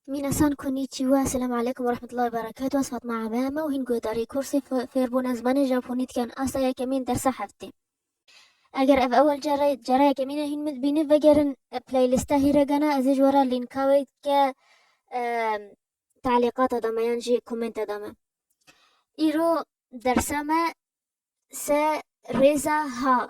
Minasan Konnichiwa, Esselamu Aleykum ve Rahmetullahi ve Berekatuh, ez Fatma Abe me û hîn guhdarê kursê fêrbûna zimanê Japonî dikin asta yekemîn dersa heftê. Eger ev ewil car e, cara yekemîn e hîn min dibînî vegerin playlista hîregana ez ê ji we re lînka wê ke teelîqata de me yan jî komenta de me. Îro dersa me se rêza ha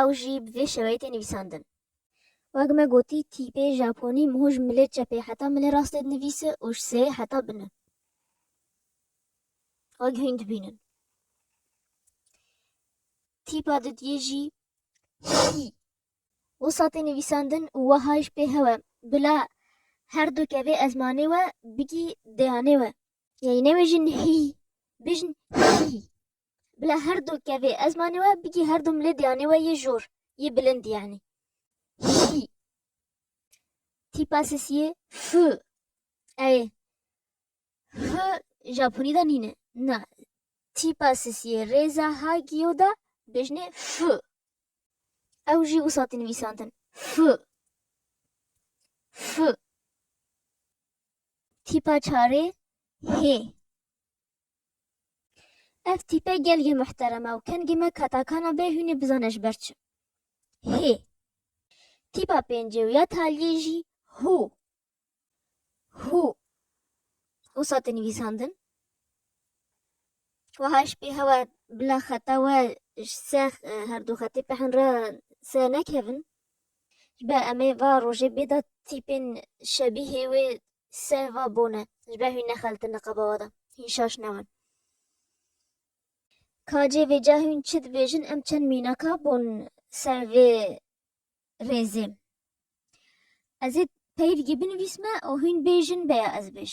ew jî bi vê şeweyê tê nivîsandin. Wek me gotî tîpê Japonî miho ji milê çepê heta milê rastê dinivîsi û ji seyê heta bini xwe gihîn dibînin. Tîpa didiyê jî hî wisa tê nivîsandin û weha ji pê hewe bila her du kevê ezmanê we bigî deyanê we. Yanî newêjin hî, bijin hî. Bila her du kevê ezmanê we bigî her du milê diyanê we yê jor, yê bilind yanî. Şî. Tîpa sesiyê F. Ew ê F Japonî de nîne. Na tîpa sesiyê rêza Hagio de bêjinê F. Ew jî wisa tê nivîsandin. F. F. Tîpa çarê H. Ev tîpe gelgê muhterem e û kengê me katakana bê hûnê bizane ji ber çi. Hê. Tîpa pêncê û ya taliyê jî hû. Hû. Wisa tê nivîsandin. Wiha ji pê hewa bila xeta we ji se herdu xetê peh re se nekevin. Ji ber em ê va rojê bê da tîpên şebîhê wê ser va bone, ji ber hûn nexeltin li qebawa da, hîn şaş nebin. Ka cê vêca hûn çi dibêjin em çend mînaka bûn ser vê rêzê. Ez ê peyv gê binivîsme û hûn bêjin beya ez bêj.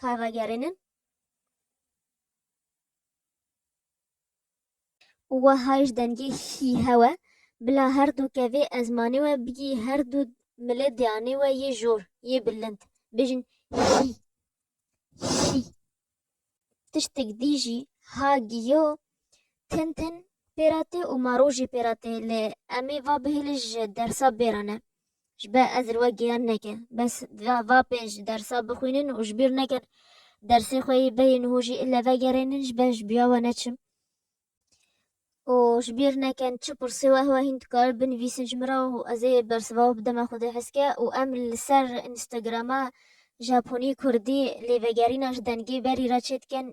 kar ragerînin û weha ji dengê hî hewe bila her du kevê ezmanê we bigî her du milê diyanê we yê jor yê bilind bijin hî hî tiştik dî jî ha giyo Tin tin pêra tê û ma rojî pêra tê lê em ê va bihêlin ji dersa bêra ne. Ji ber ez li we giyan neke. Bes va pê ji dersa bixwînin û ji bîr nekin dersê xwe yê beyê niho jî ile vegerênin ji ber ji biya we neçim. û ji bîr nekin çi pirsê weh weh hîn dikarin binivîsin ji min re û ez ê bersiva wê bidime xwedê heske û em li ser Instagrama Japonî Kurdî lêvegerîna ji dengê berî re çêdikin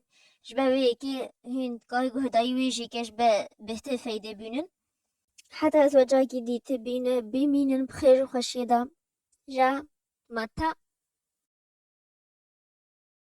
Ji ber wê yekê hûn dikarî guh dayî wê jî keş be bêhtir feydê bînin. Heta ez wecakî dîti bîne bimînin bi xêr û xweşiyê de ja ma ta.